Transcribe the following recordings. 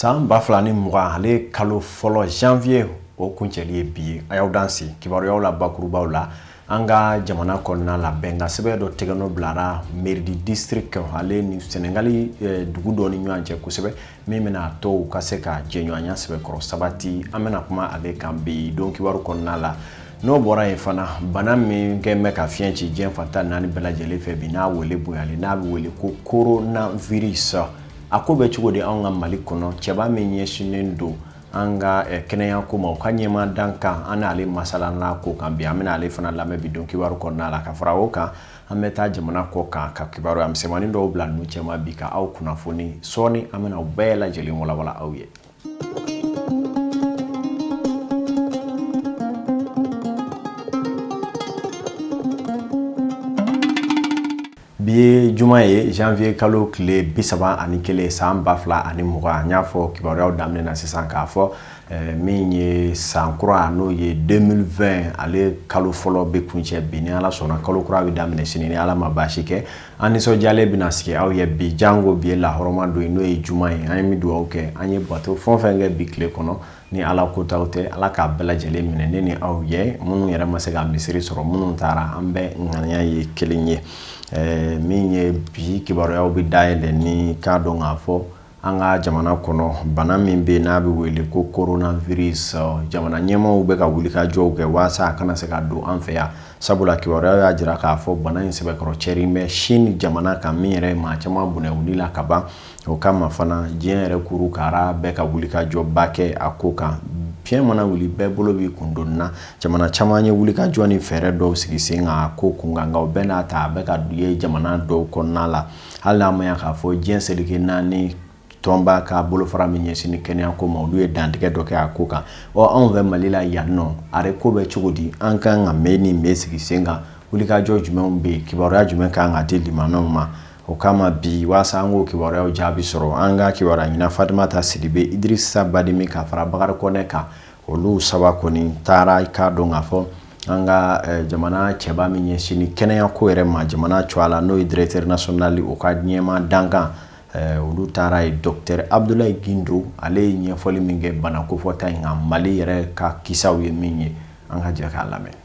san ba fila ni mugan ale kalo fɔlɔ janvier o kuncɛli ye bi ye a y'aw dansɛ kibaruyaw la bakurubaw la an ka jamana kɔnɔna la bɛnkan sɛbɛn dɔ tɛgɛnɔ bilara mairie du district ale ni sɛnɛgali eh, dugu dɔ ni ɲɔgɔn cɛ ko sɛbɛ min bɛna to u ka se ka jɛɲɔgɔnya sɛbɛkɔrɔ sabati an bɛna kuma ale kan bi don kibaru kɔnɔna la n'o bɔra yen fana bana min kɛ bɛ ka fiɲɛ ci diɲɛ fan tan ni naani bɛɛ lajɛlen fɛ bi n'a wele bonyalen n'a bɛ wele ko coronavirus a ko bɛ cogo di anw ka mali kɔnɔ cɛba min ɲɛsinnen don an ka eh, kɛnɛya ko ma u ka ɲɛmaa dankan an n'ale masalan'a ko kan bi an bɛna ale fana lamɛn bi don kibaru kɔnɔna la ka fara o kan an bɛ taa jamana kɔkan ka kibaruya misɛnmanin dɔw bila ninnu cɛma bi ka aw kunnafoni sɔɔni an bɛna u bɛɛ lajɛlen walawala aw ye bi ye juma ye janvier kalo tile bi saba ani kelen san ba fila ani mugan n y'a fɔ kibaruyaw daminɛ na sisan k'a fɔ min ye san kura n'o ye deux mille vingt ale kalo fɔlɔ bɛ kuncɛ bi ni ala sɔnna kalo kura bɛ daminɛ sini ni ala ma baasi kɛ an nisɔndiyalen bɛna sigi aw ye bi janko bi ye lahɔrɔma don ye n'o ye juma ye an ye min duwawu kɛ an ye bato fɛn fɛn kɛ bi tile kɔnɔ ni ala kota tɛ ala k'a bɛɛ lajɛlen minɛ ne ni aw ye minnu yɛrɛ ma se ka misiri sɔrɔ minnu taara an bɛɛ ŋaniya ye kelen ye min ye bi kibaruyaw bɛ dayɛlɛ ni k'a dɔn k'a fɔ An ka jamana kɔnɔ bana min bɛ n'a bɛ wele ko coronavirus jamana ɲɛmaw bɛ ka wulikajɔw kɛ walasa a kana se ka don an fɛ yan sabula kibaruya y'a jira k'a fɔ bana in sɛbɛkɔrɔ cɛrinnen bɛ sin jamana kan min yɛrɛ maa caman bɔnɛ u ni la ka ban o kama fana diɲɛ yɛrɛ kuru kara bɛ ka wulikajɔba kɛ a ko kan fiɲɛ mana wuli bɛɛ bolo b'i kundoni na jamana caman ye wulikajɔ ni fɛɛrɛ dɔw sigi sen kan ko kun kan nka o bɛɛ n'a ta a bɛ ka dɔw ye jamana dɔw kɔnɔna la hali n'a ma ye k'a fɔ diɲɛ seleke naani tɔnba ka bolofara min ɲɛsinnen kɛnɛya ko ma olu ye dantigɛ dɔ kɛ a ko kan ɔ anw fɛ mali la yannɔ a yɛrɛ ko bɛ cogo di an ka kan ka mun ni mun sigi sen kan wulikajɔ jumɛnw bɛ yen kibaruya jumɛn ka kan ka di limaanaw ma o kama bi waasa an k'o kibaruyaw jaabi sɔrɔ an ka kibaruya ɲinina fatumata sidibe idirisa badimi ka fara bakari kɔnɛ kan Olu saba kɔni taara i k'a dɔn k'a fɔ an ka jamana cɛba min ɲɛsinnen kɛnɛya ko yɛrɛ ma jamana tɔgɔ la n'o ye directeur national o ka ɲɛmaa dankan olu taara ye docteur abdulayi gindo ale ye ɲɛfɔli min kɛ bana kofɔta in kan mali yɛrɛ ka kisaw ye min ye an ka jɛ k'a lamɛn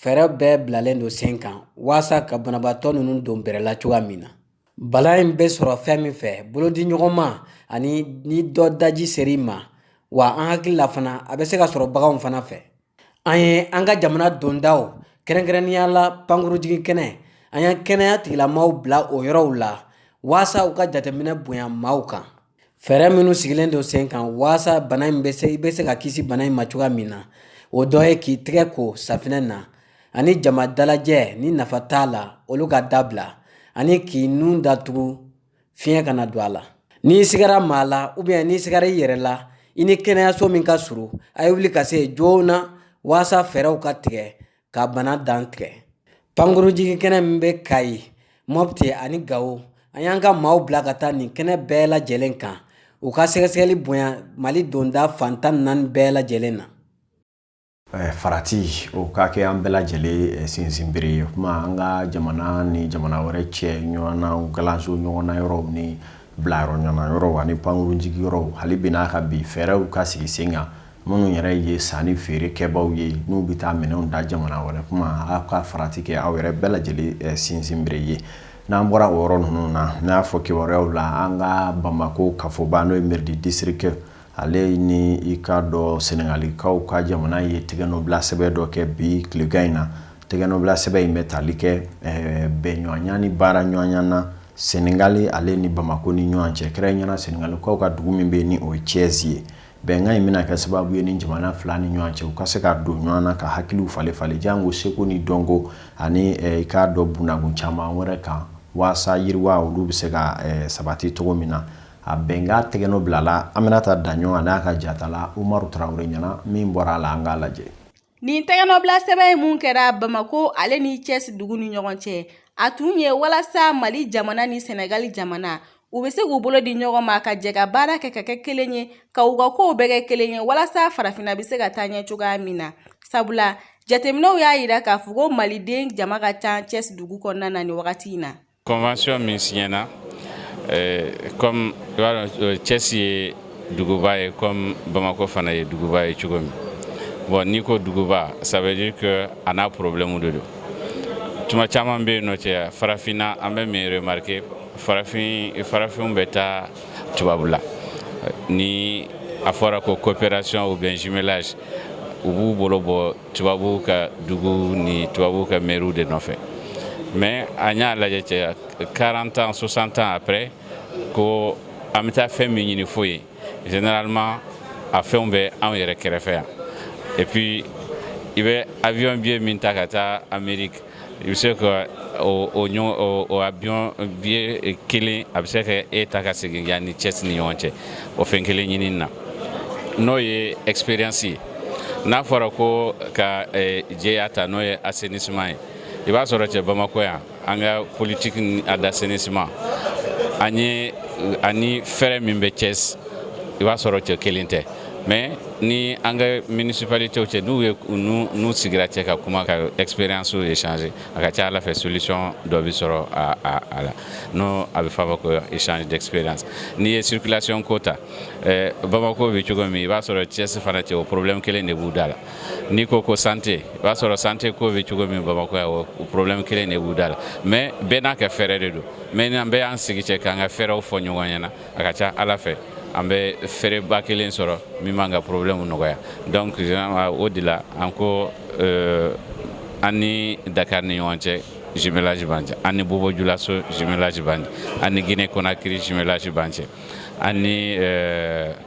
fɛɛrɛ bɛɛ bilalen don sen kan walasa ka banabaatɔ ninnu don bɛrɛla cogoya min na bana in bɛ sɔrɔ fɛn min fɛ bolodiɲɔgɔnma ani ni dɔ daji ser'i ma wa an hakili la fana a bɛ se ka sɔrɔ baganw fana fɛ an ye an ka jamana dondaw kɛrɛnkɛrɛnnenya la pankurujigin kɛnɛ an y'an kɛnɛya tigilamaaw bila o yɔrɔw la walasa u ka jateminɛ bonya maaw kan Fɛɛrɛ minnu sigilen don sen kan walasa bana in bɛ se i bɛ se ka kisi bana in ma cogoya min na o dɔ ye k'i tɛgɛ ko safinɛ na ani jama dalajɛ ni nafa t'a la olu ka dabila ani k'i nun datugu fiɲɛ kana don a la n'i sigara maa la ou bien n'i sigara i yɛrɛ la i ni kɛnɛyaso min ka surun a ye wuli ka se joona walasa fɛɛrɛw ka tigɛ ka bana dan tigɛ pankurujigin kɛnɛ min bɛ kayi mɔpiti ani gawo an y'an ka maaw bila ka taa nin kɛnɛ bɛɛ lajɛlen kan u ka sɛgɛsɛgɛli bonya mali donda fan tan naani bɛɛ lajɛlen na Eh, farati o ka kɛ an bɛɛ lajɛlen eh, sinsinbere ye kuma an ka jamana ni jamana wɛrɛ cɛ ɲɔgɔnna kalanso ɲɔgɔnna yɔrɔw ni bila yɔrɔ ɲɔgɔnna yɔrɔ ani pankurujigi yɔrɔ hali bi n'a ka bi fɛɛrɛw ka sigi sen kan minnu yɛrɛ ye san ni feere kɛbaw ye n'u bɛ taa minɛnw ta jamana wɛrɛ kuma aw ka farati kɛ aw yɛrɛ bɛɛ lajɛlen eh, sinsinbere ye n'an bɔra o yɔrɔ ninnu na n'an y'a fɔ kibaruyaw la an ka bamakɔ kafoba n'o ye mairie du district ale ni i k'a dɔn sɛnɛgalikaw ka jamana ye tɛgɛnɔbila sɛbɛn dɔ kɛ bi tilegan in na tɛgɛnɔbila sɛbɛn in bɛ tali kɛ eh, bɛnɲɔgɔnya ni baara ɲɔgɔnya na sɛnɛgali ale ni bamako ni ɲɔgɔn cɛ kɛrɛnkɛrɛnnenya sɛnɛgalikaw ka dugu min bɛ yen ni o ye cɛsi ye bɛnkan in bɛna kɛ sababu ye ni jamana fila ni ɲɔgɔn cɛ u ka se ka don ɲɔgɔn na ka hakiliw falen falen janko seko ni dɔnko ani eh, i k'a dɔn bunakun caman wɛrɛ kan waasa yiriwa olu bɛ se ka eh, sabati cogo min na A bɛnkan tɛgɛnɔ bilala aminata daɲɔgɔ n'a ka jatala umaru tarawele ɲɛna min bɔra a la an k'a lajɛ nin tɛgɛnɔbila sɛbɛn in min kɛra bamakɔ ale ni cɛsi dugu ni ɲɔgɔn cɛ a tun ye walasa mali jamana ni sɛnɛgali jamana u bɛ se k'u bolo di ɲɔgɔn ma ka jɛ ka baara kɛ ka kɛ kelen ye ka u ka kow bɛɛ kɛ kelen ye walasa farafinna bɛ se ka taa ɲɛ cogoya min na sabula jateminɛw y'a jira k'a fɔ ko maliden jama ka ca cɛsi dugu kɔnɔna na nin wagati in na Convention min siɲɛna eh, comme i b'a dɔn eh, Thiès ye duguba ye comme Bamako fana ye duguba ye cogo min bon n'i ko duguba ça veut dire que a n'a problème de don tuma caman bɛ yen nɔ cɛ farafinna an bɛ min remarquer farafin farafinw bɛ taa tubabu la ni a fɔra ko coopération ou bien jumelage u b'u bolo bɔ tubabu ka dugu ni tubabu ka mɛriw de nɔfɛ mais an y'a lajɛ cɛ 40 ans 60 ans après ko an bɛ taa fɛn min ɲini fo yen généralement a fɛnw bɛ anw yɛrɛ kɛrɛfɛ yan et puis i bɛ avion billet min ta ka taa Amérique i bɛ se ka o avion billet kelen a bɛ se ka e ta ka segin yan ni Thiès ni ɲɔgɔn cɛ o fɛn kelen ɲinini na n'o ye expérience ye n'a fɔra ko ka jɛya ta n'o ye assainissement ye i b'a sɔrɔ cɛ Bamakɔ yan an ka politique ni a d'assainissement an ye ani fɛɛrɛ min bɛ Thiès i b'a sɔrɔ cɛ kelen tɛ. mais ni an ka municipalité cɛ n'u ye n'u sigira cɛ ka kuma ka expérience échanger a ka ca ala fɛ solution dɔ bi sɔrɔ a a a la n'o a bɛ fɔ a ma ko échange d'expérience n'i ye circulation ko ta eh, Bamako bɛ cogo min i b'a sɔrɔ Thiès fana cɛ o problème kelen de b'u da la n'i ko ko santé i b'a sɔrɔ santé ko bɛ cogo min Bamako yan o problème kelen de b'u da la mais bɛɛ n'a ka fɛɛrɛ de don mais n'an bɛɛ y'an sigi cɛ k'an ka fɛɛrɛw fɔ ɲɔgɔn ɲɛna a ka ca ala fɛ an bɛ fɛɛrɛba kelen sɔrɔ min b'an ka problème nɔgɔya donc o de la an ko euh, an ni dakar ni ɲɔgɔn cɛ jumelage b'an cɛ an ni bobojulaso jumelage b'an cɛ an ni guinée conakry jumelage b'an cɛ an ni euh,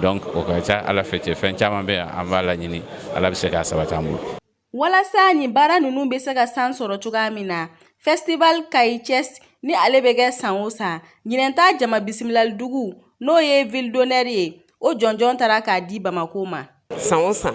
donc o ka ca ala fɛ cɛ fɛn caman bɛ yan an b'a laɲini ala bɛ se k'a sabati an bolo walasa nin baara ninnu bɛ se ka san sɔrɔ cogoya min na festival kayi Thiès ni ale bɛ kɛ san o san ɲinɛn ta jama bisimilali dugu n'o ye ville d'honneur ye o jɔnjɔn taara k'a di bamako ma san o san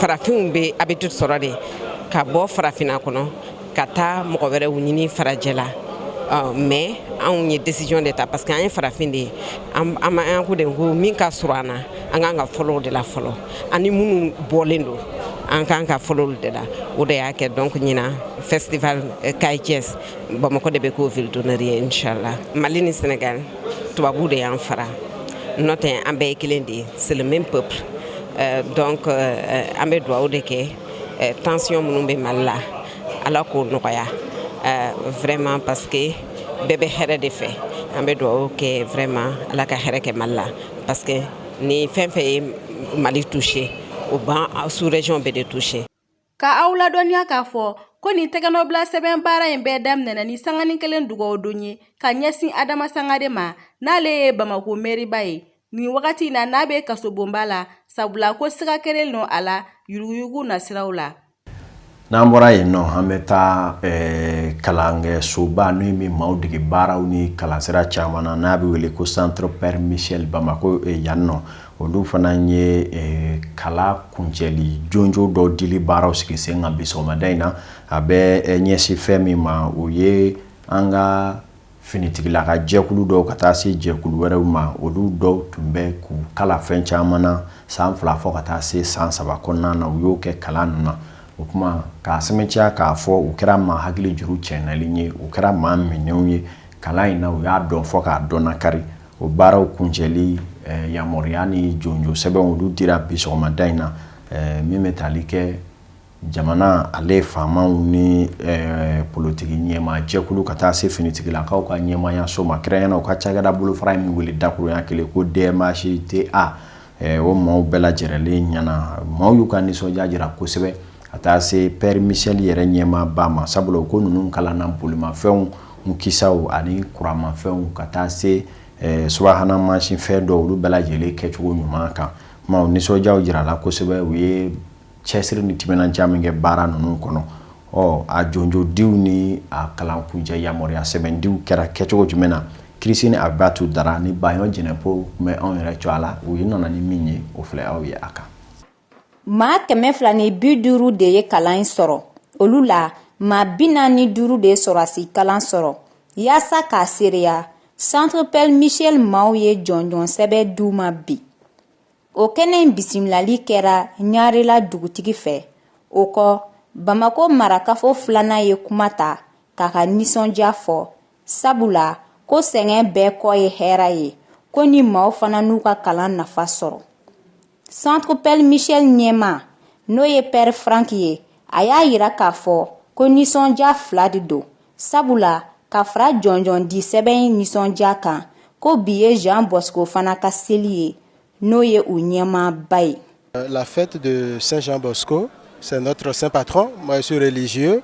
farafinw bɛ habitude sɔrɔ de ka bɔ farafinna kɔnɔ ka taa mɔgɔ wɛrɛw ɲini farajɛ la euh, mais anw ye décision de ta parce que an ye farafin de ye an an ko de ko min ka surun an na an kan ka fɔlɔ o de la fɔlɔ ani minnu bɔlen don an kan ka fɔlɔ olu de la o de y'a kɛ donc ɲina festival euh, kayi Thiès bamakɔ de bɛ k'o ville d'honneur ye inchallah mali ni sénégal tubabu de y'an fara n'o tɛ an bɛɛ ye kelen de ye c'est le même peuple euh, donc euh, an bɛ dugawu de kɛ euh, tension minnu bɛ mali la ala k'o nɔgɔya euh, vraiment parce que bɛɛ bɛ hɛrɛ de fɛ an bɛ dugawu kɛ vraiment ala ka hɛrɛ kɛ mali la parce que ni fɛn fɛn ye mali touché o ban sous région bɛɛ de touché Ka aw ladɔnniya k'a fɔ ko nin tɛgɛnɔbila sɛbɛn baara in bɛɛ daminɛna ni sanganin kelen dugawu don ye ka ɲɛsin adama sangare ma n'ale ye bamako mɛriba ye nin wagati in na n'a bɛ kasobonba la sabula ko siga kɛlen nɔ a la yuruguyugu nasiraw la n'an bɔra yen nɔ an bɛ taa eh, kalankɛsoba n'o ye min maaw dege baaraw ni kalansira caman na n'a bɛ wele ko centre père michel bamako eh, yan nɔ Olu fana ye kalan kuncɛli jɔnjɔn dɔ dili baaraw sigi sen kan bi sɔgɔmada in na a bɛ ɲɛsin fɛn min ma o ye an ka finitigilaka jɛkulu dɔw ka taa se jɛkulu wɛrɛw ma olu dɔw tun bɛ k'u kalan fɛn caman na san fila fɔ ka taa se san saba kɔnɔna na u y'o kɛ kalan ninnu na o tuma k'a sɛmɛntiya k'a fɔ u kɛra maa hakili juru cɛli ye u kɛra maa minɛw ye kalan in na u y'a dɔn fɔ k'a dɔn kari O baaraw kuncɛli yamaruya ni jɔnjɔn sɛbɛnw olu dira bi sɔgɔmada in na min bɛ taali kɛ jamana ale faamaw ni politiki ɲɛmaa jɛkulu ka taa se finitigilakaw ka ɲɛmaayaso ma kɛrɛnkɛrɛnnenya u ka cakɛda bolofara in min wele dakuruɲa kelen ko dmhta o maaw bɛɛ lajɛrɛlen ɲɛna maaw y'u ka nisɔndiya jira kosɛbɛ ka taa se père michel yɛrɛ ɲɛmaaba ma sabula u ko ninnu kalanna bolimafɛnw u kisaw ani kuranmafɛnw ka taa se subahana mansin fɛn dɔw olu bɛɛ lajɛlen kɛcogo ɲuman kan maaw nisɔndiya jirala kosɛbɛ u ye cɛsiri ni timinandiya min kɛ baara ninnu kɔnɔ ɔ a jɔnjɔndiw ni a kalankuncɛ yamaruya sɛbɛndiw kɛra kɛcogo jumɛn na christine abibatu dara ni bayɔn jɛnɛpo tun bɛ anw yɛrɛ tɔgɔ la u ye nana ni min ye o filɛ aw ye a kan maa kɛmɛ fila ni bi duuru de ye kalan in sɔrɔ olu la maa bi naani ni duuru de ye sɔrɔdasi kalan sɔrɔ yaasa k'a seereya centre père michel maaw ye jɔnjɔn sɛbɛn di u ma bi o kɛnɛ in bisimilali kɛra ɲarela dugutigi fɛ o kɔ bamakɔ marakafo filanan ye kuma ta k'a ka nisɔndiya fɔ sabula ko sɛgɛn bɛɛ kɔ ye hɛra ye ko ni maaw fana n'u ka kalan nafa sɔrɔ centre père michel ɲɛmaa n'o ye père frank ye a y'a yira k'a fɔ ko nisɔndiya fila de don sabula ka fara jɔnjɔndi sɛbɛn nisɔndiya kan ko bi ye jean bosco fana ka seli ye n'o ye u ɲɛmaaba ye euh, la fête de saint jean bosco c'est notre saint patron moi je suis religieux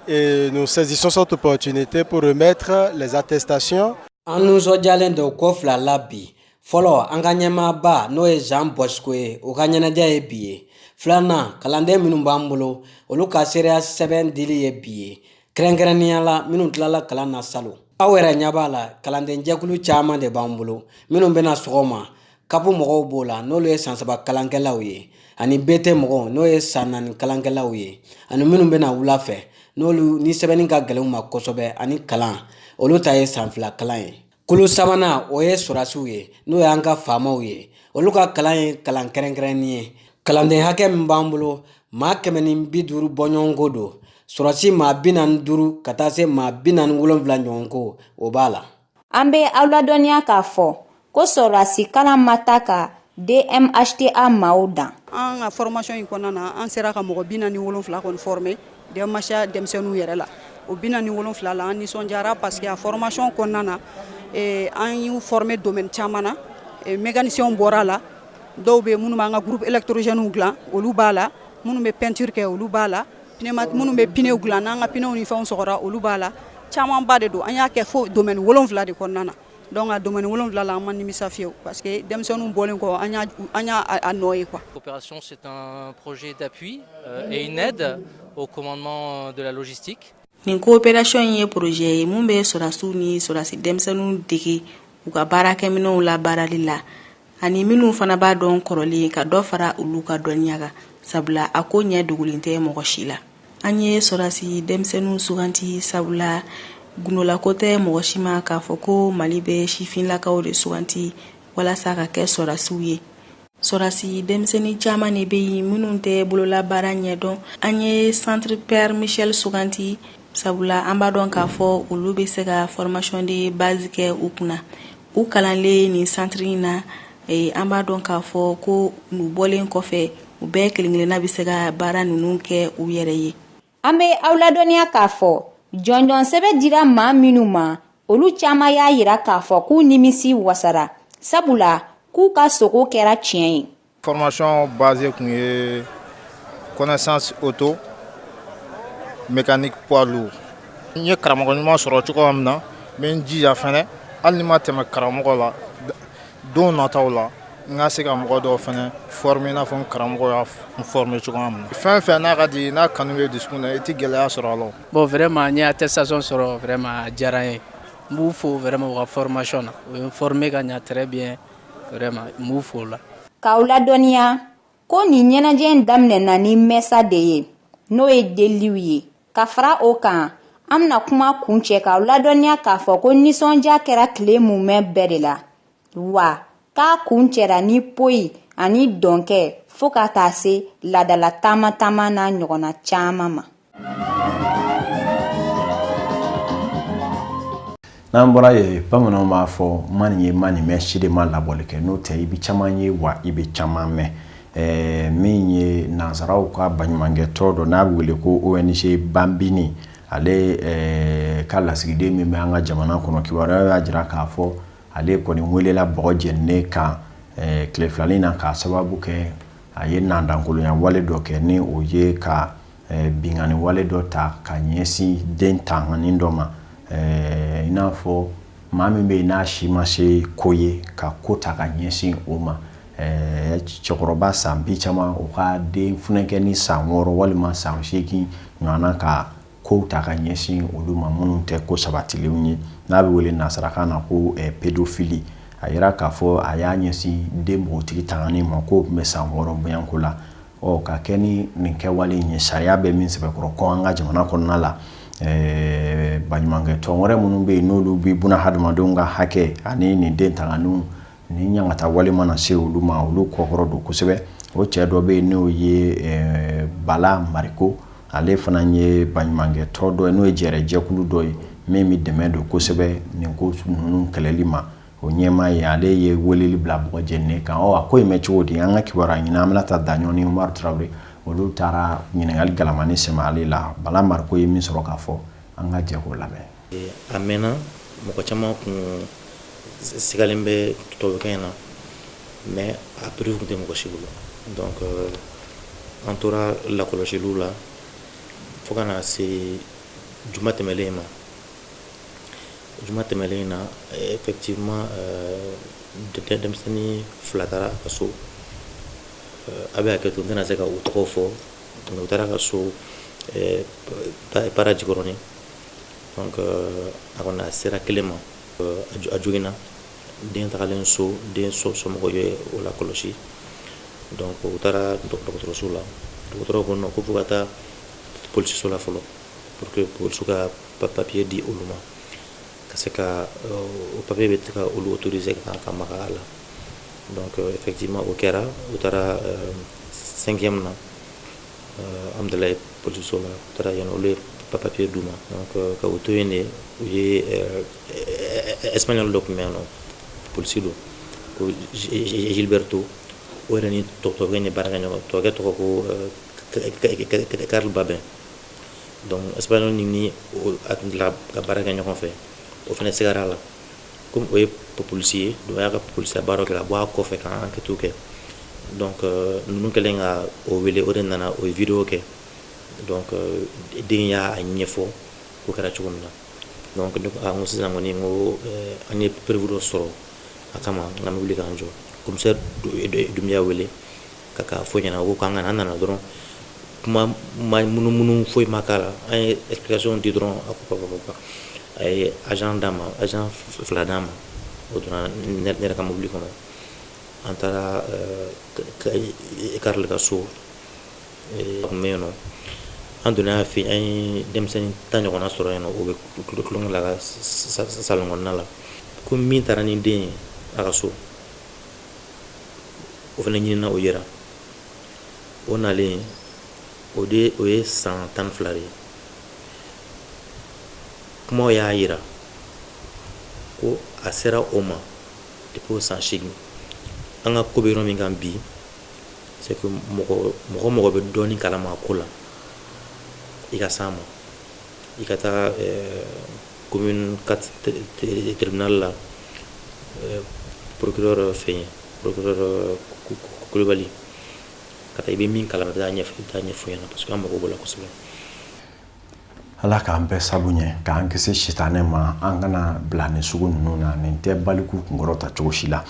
et nous saisissons cette opportunité pour remettre les attestations an nisɔndiyalen don ko fila la bi fɔlɔ an ka ɲɛmaaba n'o ye jean bosco ye o ka ɲɛnajɛ ye bi ye filanan kalanden minnu b'an bolo olu ka seereya sɛbɛn dili ye bi ye kɛrɛnkɛrɛnnenya la minnu tilala kalan na salon aw yɛrɛ ɲɛ b'a la kalandenjɛkulu caman de b'an bolo minnu bɛ na sɔgɔma kapu mɔgɔw b'o la n'olu ye san saba kalankɛlaw ye ani bt mɔgɔw n'o ye san naani kalankɛlaw ye ani minnu bɛ na wula fɛ n'olu ni sɛbɛnni ka gɛlɛn u ma kosɛbɛ ani kalan olu ta ye san fila kalan ye Kulu sabanan o ye sɔrɔdasiw ye n'o y'an ka faamaw ye olu ka kalan ye kalan kɛrɛnkɛrɛnnen ye kalanden hakɛ min b'an bolo maa kɛmɛ ni bi duuru bɔɲɔgɔnko don sɔrɔdasi maa bi naani duuru ka taa se maa bi naani wolonwula ɲɔgɔnko o b'a la an bɛ aw ladɔnniya k'a fɔ ko sɔrɔdasi kalan ma taa ka DMHTA maaw dan an ka formation in kɔnɔna na an sera ka mɔgɔ bi naani wolonwula kɔni former DMHTA denmisɛnninw yɛrɛ la o bi naani wolonwula la an nisɔndiyara parce que a formation kɔnɔna na an y'u former domaine caman na mécaniciens bɔra a la dɔw bɛ minnu b'an ka groupe électrogène dila olu b'a la minnu bɛ peinture kɛ olu b'a la minnu bɛ pneuw dilan n'an ka pneu ni fɛnw sɔgɔra olu b'a la camanba de don an y'a kɛ fo domaine wolonwula de kɔnɔna na donc a domaine wolonwula la an ma nimisa fiyewu parce que denmisɛnninw bɔlen kɔ an y'a an y'a a nɔ ye quoi. Coopération, c'est un projet d'appui euh, et une aide au commandement euh, de la logistique. Nin coopération in ye projet ye mun bɛ sɔrasiw ni sɔrasi denmisɛnninw dege u ka baarakɛminɛnw labaarali la. ani minnu fana b'a dɔn kɔrɔlen ka dɔ fara olu ka dɔnniya kan sabula a ko ɲɛ dogolen tɛ mɔgɔ si la an ye sɔrɔdasi denmisɛnninw suganti sabula gundolako tɛ mɔgɔ si ma k'a fɔ ko Mali bɛ sifinlakaw de suganti walasa ka kɛ sɔrɔdasiw ye sɔrɔdasi denmisɛnnin caman de bɛ yen minnu tɛ bololabaara ɲɛdɔn an ye Centre Père Michel suganti sabula an b'a dɔn k'a fɔ olu bɛ se ka formation de base kɛ u kunna u kalanlen nin centre in na eh, an b'a dɔn k'a fɔ ko u bɔlen kɔfɛ u bɛɛ kelen-kelenna bɛ se ka baara ninnu kɛ u yɛrɛ ye an bɛ aw ladɔnniya k'a fɔ jɔnjɔn sɛbɛn dira maa minnu ma olu caman y'a yira k'a fɔ k'u nimisi wasara sabula k'u ka sogo kɛra tiɲɛ ye Fɔrɔmasi base tun ye kosan o to m ni kuwa n ye karamɔgɔ ɲuman sɔrɔ cogoya min na n n jija fana hali ni ma tɛmɛ karamɔgɔ la don nɔ t' la n ka se ka mɔgɔ dɔ fana f min n'a fɔ karamɔgɔ n fɔ min cogoya min fɛn fɛn n'a ka di n'a kanu ye dusu na i tɛ gɛlɛyaya sɔrɔ a la bon wɛrɛ ma n tɛ sasɔn sɔrɔ wɛrɛ ma diyara ye n b'u fɔ wɛrɛ ma ka fɔrɔmay na o ye fɔra ka ɲaaɛrɛ bɛ ye k'aw ladɔnniya ko nin ɲɛnajɛ in daminɛna ni mɛsa de ye n'o ye deliliw ye ka fara o kan an bɛna kuma kuncɛ k'aw ladɔnniya k'a fɔ ko nisɔndiya kɛra tile mumɛ bɛɛ de la wa k'a kuncɛra ni poyi ani dɔnkɛ fo ka taa se laadala taama taama n'a ɲɔgɔnna caman ma n'an bɔra yen bamananw b'a fɔ ma nin ye ma nin mɛn si de ma labɔli kɛ n'o tɛ i bɛ caman ye wa i bɛ caman mɛn ɛɛ min ye nansaraw ka baɲumankɛtɔn dɔ n'a bɛ wele ko ONG Bambini ale ɛɛ ka lasigiden min bɛ an ka jamana kɔnɔ kibaruya y'a jira k'a fɔ ale kɔni welela bɔgɔ jɛninen kan ɛɛ tile fila nin na k'a sababu kɛ a ye nandankolonya wale dɔ kɛ ni o ye ka binkanni wale dɔ ta ka ɲɛsin den tanganin dɔ ma i n'a fɔ maa min bɛ yen n'a si ma se ko ye ka ko ta ka ɲɛsin o ma cɛkɔrɔba san bi caman o ka den funankɛnin san wɔɔrɔ walima san segingin ɲɔgɔn ka ko ta ka ɲɛsin olu ma minnu tɛ ko sabatilen ye n'a bɛ wele nasarakan na ko pédophilie a jira k'a fɔ a y'a ɲɛsin den npogotigi tanganin ma k'o tun bɛ san wɔɔrɔ bɛko la ɔ ka kɛ ni nin kɛwale in ye sariya bɛ min sɛbɛkɔrɔ kɔn an ka jamana kɔnɔna la eh, baɲumankɛtɔn wɛrɛ minnu bɛ yen n'olu bɛ bunahadamadenw ka hakɛ ani nin den tanganiw ni ɲangata wale mana se olu ma olu kɔkɔrɔ don kosɛbɛ o cɛ dɔ bɛ yen n'o ye eh, Bala Mariko ale fana ye baɲumankɛtɔn dɔ ye n'o ye jɛrɛjɛkulu dɔ ye min bɛ dɛmɛ don kosɛbɛ nin ko ninnu kɛlɛli ma o ɲɛmaa ye ale ye weleli bila bɔgɔ jɛninen kan a ko in mɛn cogo di an ka kibaruya ɲinina Aminata Daɲɔn ni Umaru Tarawele olu taara ɲininkali galamanin sɛmɛ ale la Bala Mariko ye min sɔrɔ k'a fɔ an ka jɛ k'o lamɛn a mɛnna mɔgɔ caman kun sigalen bɛ tubabukɛ in na mais a preuve kun tɛ mɔgɔ si bolo donc an tora lakɔlɔsili la fo ka na se juma tɛmɛlen in ma juma tɛmɛnlen in na effectivement denmisɛnnin fila taara ka so a bɛ hakɛ to n tɛna se ka u tɔgɔ fɔ u taara ka so Para Jikɔrɔni a kɔni a sera kelen ma a joginna den tagalen so den somɔgɔw ye o lakɔlɔsi donc u taara dɔgɔtɔrɔso la dɔgɔtɔrɔw ko non ko fo ka taa polisiso la fɔlɔ pour que polisiw ka papier di olu ma ka se ka o papier bɛ se ka olu autoriser ka maga a la donc effectivement o kɛra u taara cinquième na Amdalayi polisiso la u taara yen olu ye papier d'u ma donc ka u to yen de u ye espagnol dɔ tun bɛ yan nɔ polisi don ko Gilberto o yɛrɛ ni tubabukɛ in ye baarakɛɲɔgɔn tubabukɛ tɔgɔ ko Karl Babin donc espagnol nin ni a ka baara kɛ ɲɔgɔn fɛ o fana sigara a la kɔmi o ye p polisi ye donc a y'a ka polisiya baara kɛ ka bɔ a kɔfɛ ka enquête kɛ donc ninnu kɛlen ka o wele o de nana o ye vidéo kɛ donc den y'a ɲɛfɔ ko kɛra cogo min na donc ne ko sisan kɔni n ko an ye preuve dɔ sɔrɔ a kama wuli k'an jɔ commissaire Dumbuya wele ka k'a fɔ a ɲɛna ko k'an kana an nana dɔrɔn kuma ma munumunu foyi ma k'a la an ye explication di dɔrɔn a ko papa a ye agent d'a ma agent fila d'a ma o donna ne yɛrɛ ka mobili kɔnɔ an taara Karl ka so a tun bɛ yen nɔ an donna a fɛ yen an ye denmisɛnnin tan ɲɔgɔnna sɔrɔ yen nɔ o bɛ tulo tulonkɛ la salon kɔnɔna la ko min taara ni den ye a ka so o fana ɲinina o yera o nalen o de o ye san tan ni fila de ye kumaw y'a yira ko a sera o ma depi o san seegin an ka ko bɛ yɔrɔ min kan bi c'est que mɔgɔ mɔgɔ bɛ dɔɔnin kalama a ko la i ka s'a ma i ka taa commune 4 tribunal la euh, procureur fɛn procureur euh, kulubali ka taa i bɛ min kalama taa a ɲɛfɔ i taa a ɲɛfɔ a ɲɛna parce que an mago b'o la kosɛbɛ ala k'an bɛɛ sabu ɲɛ k'an kisi sitanɛ ma an kana bila nin sugu ninnu na nin tɛ baliku kunkɔrɔta cogo si la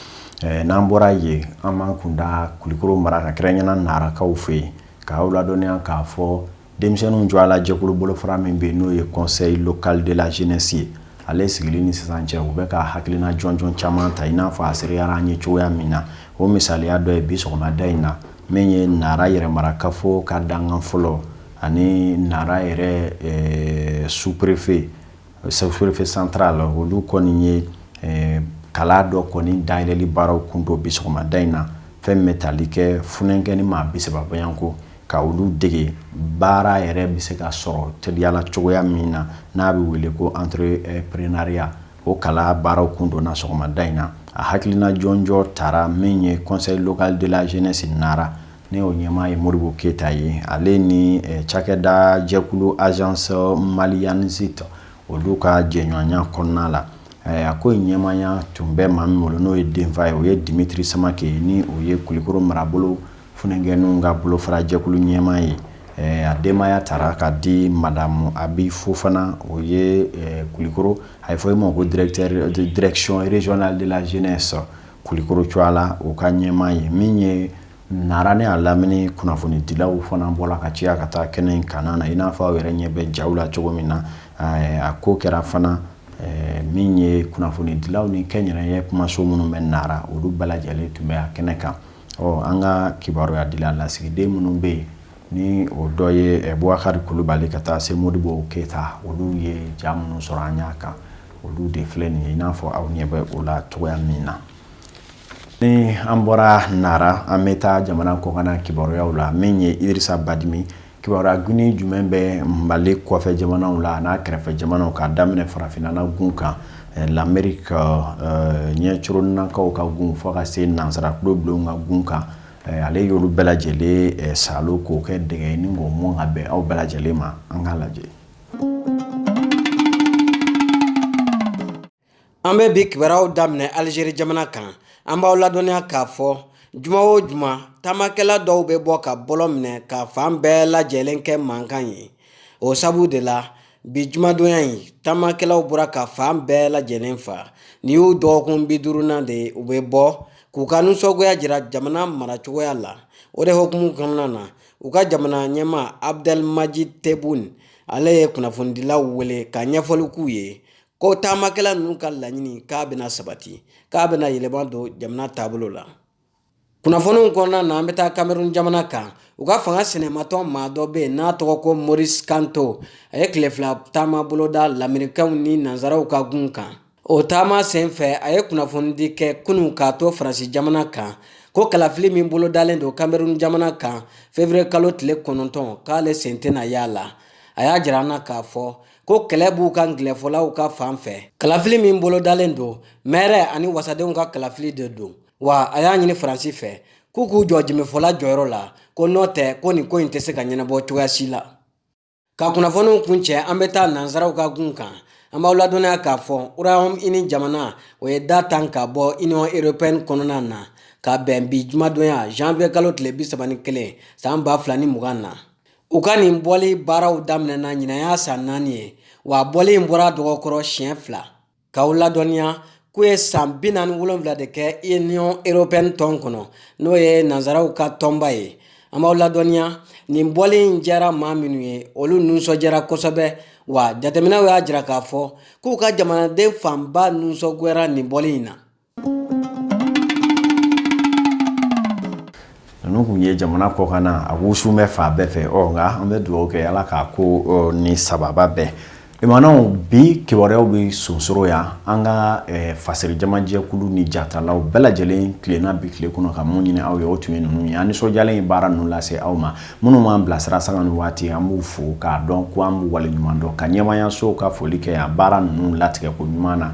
eh, n'an bɔra yen an b'an kun da kulikoro mara kan kɛrɛnkɛrɛnnenya narakaw fɛ yen k'aw ladɔnniya k'a fɔ denmisɛnninw tɔgɔ la jɛkulu bolofara min bɛ yen n'o ye conseil local de la jeunesse ye ale sigili ni sisan cɛ u bɛ ka hakilina jɔnjɔn caman ta i n'a fɔ a seereyara an ye cogoya min na o misaliya dɔ ye bi sɔgɔmada in na min ye nara yɛrɛmarakafo ka dankan fɔlɔ ani nara yɛrɛ eh, sous-préfet sous-préfet central olu kɔni ye eh, kalan dɔ kɔni dayɛlɛli baaraw kun don bi sɔgɔmada in na fɛn min bɛ tali kɛ funankɛnin maa bisaba bɔɲɔgɔnko ka olu dege baara yɛrɛ bɛ se ka sɔrɔ teliyala cogoya min na n'a bɛ wele ko entrepreneuriat o kalan baaraw kun donna sɔgɔmada in na a hakilina jɔnjɔn tara min ye conseil local de la jeunesse nara n'o ɲɛmaa ye modibo keyita ye ale ni cakɛda jɛkulu agence maliyanesita ta olu ka jɛɲɔgɔnya kɔnɔna la a ko in ɲɛmaaya tun bɛ maa min bolo n'o ye denfa ye o ye dimitiri samakɛ ye ni o ye kulukɔrɔ marabolo Funankɛninw ka bolofarajɛkulu ɲɛmaa ye a denbaya tara ka di madamu Abi Fofana o ye kulukɔrɔ a ye fɔ e ma ko direction régionale de la jeunesse kulukɔrɔ cogoya a la u ka ɲɛmaa ye min ye Nara ni a lamini kunnafonidilaw fana bɔla ka caya ka taa kɛnɛ in kanna i n'a fɔ aw yɛrɛ ɲɛ bɛ ja la cogo min na a ko kɛra fana min ye kunnafonidilaw ni kɛnyɛrɛye kumaso minnu bɛ Nara olu bɛɛ lajɛlen tun bɛ a kɛnɛ kan Ɔ an ka kibaruyadila lasigiden minnu bɛ yen ni o dɔ ye buwakari kulubali ka taa se mɔdibo keyita olu ye ja minnu sɔrɔ an y'a kan olu de filɛ nin ye i n'a fɔ aw ɲɛ bɛ o la cogoya min na ni an bɔra nara an bɛ taa jamana kɔkanna kibaruyaw la min ye idrisa badimi Kibaruya gonin jumɛn bɛ Mali kɔfɛ jamanaw la an'a kɛrɛfɛ jamanaw k'a daminɛ farafinna na gun kan eh, l'Amérique eh, ɲɛcoronakaw ka gun fo ka se nansara tulobilenw ka gun kan eh, ale y'olu bɛɛ lajɛlen salo k'o kɛ dɛgɛ ye ni k'o mɔn ka bɛn aw bɛɛ lajɛlen ma an k'a lajɛ An bɛ bi kibaruyaw daminɛ Algérie jamana kan, an b'aw ladɔnniya k'a fɔ juma o juma taamakɛla dɔw bɛ bɔ ka bɔlɔn minɛ ka fan bɛɛ lajɛlen kɛ mankan ye. O sabu de la bi jumadonya in taamakɛlaw bɔra ka fan bɛɛ lajɛlen fa. Nin y'u dɔgɔkun bi duurunan de ye u bɛ bɔ k'u ka nisɔngoya jira jamana maracogoya la. O de hukumu kɔnɔna na u ka jamana ɲɛmaa Abdelmajid Tebboune ale ye kunnafonidilaw wele ka ɲɛfɔli k'u ye ko taamakɛla ninnu ka laɲini k'a bɛna sabati k'a bɛna yɛlɛma don jamana taabolo la kunnafoniw kɔnɔna na an bɛ taa kamerun jamana kan u ka fanga sinamatɔn maa dɔ bɛ yen n'a tɔgɔ ko moris kanto a ye tile fila taama boloda lamerikɛnw ni nanzaraw ka gun kan o taama sen fɛ a ye kunnafonidi kɛ kunun k'a to faransi jamana kan ko kalafili min bolodalen don kamerun jamana kan fevriye kalo tile kɔnɔntɔn k'ale sen tɛna y'a la a y'a jira an na k'a fɔ ko kɛlɛ b'u ka angilɛfɔlaw ka fan fɛ kalafili min bolodalen don mɛri ani wasadenw ka kalafili de don wa a y'a ɲini faransi fɛ k'u k'u jɔ jimifɔla jɔyɔrɔ la ko n'o tɛ ko nin ko in tɛ se ka ɲɛnabɔ cogoya si la ka kunnafoniw kuncɛ an bɛ taa nansaraw ka gun kan an b'aw ladɔnniya k'a fɔ Royaume-Uni jamana o ye da tan ka bɔ union européenne kɔnɔna na ka bɛn bi jumadonya janvier kalo tile bi saba ni kelen san ba fila ni mugan na u ka nin bɔli baaraw daminɛna ɲinan y'a san naani ye wa a bɔli in bɔra dɔgɔ kɔrɔ siɲɛ fila k'aw ladɔnniya k'u ye san bi naani ni wolonwula de kɛ union européenne tɔn kɔnɔ n'o ye nanzaraw ka tɔnba ye an b'aw ladɔnniya nin bɔli in diyara maa minnu ye olu nisɔndiyara kosɛbɛ wa jateminɛw y'a jira k'a fɔ k'u ka jamanaden fanba nisɔngoyara nin bɔli in na ninnu kun ye jamana kɔkan na a wusu bɛ fan bɛɛ fɛ ɔ nka an bɛ dugawu kɛ ala k'a ko ni sababa bɛɛ limanaw bi kibaruyaw bɛ sonsoro yan an ka fasari jamajɛkulu ni jatalaw bɛɛ lajɛlen tilenna bi tile kɔnɔ ka mun ɲini aw ye o tun ye ninnu ye an nisɔndiyalen ye baara ninnu lase aw ma minnu b'an bilasira sanga ni waati an b'u fo k'a dɔn ko an b'u waleɲuman dɔn ka ɲɛmaayasow ka foli kɛ yan baara ninnu latigɛ ko ɲuman na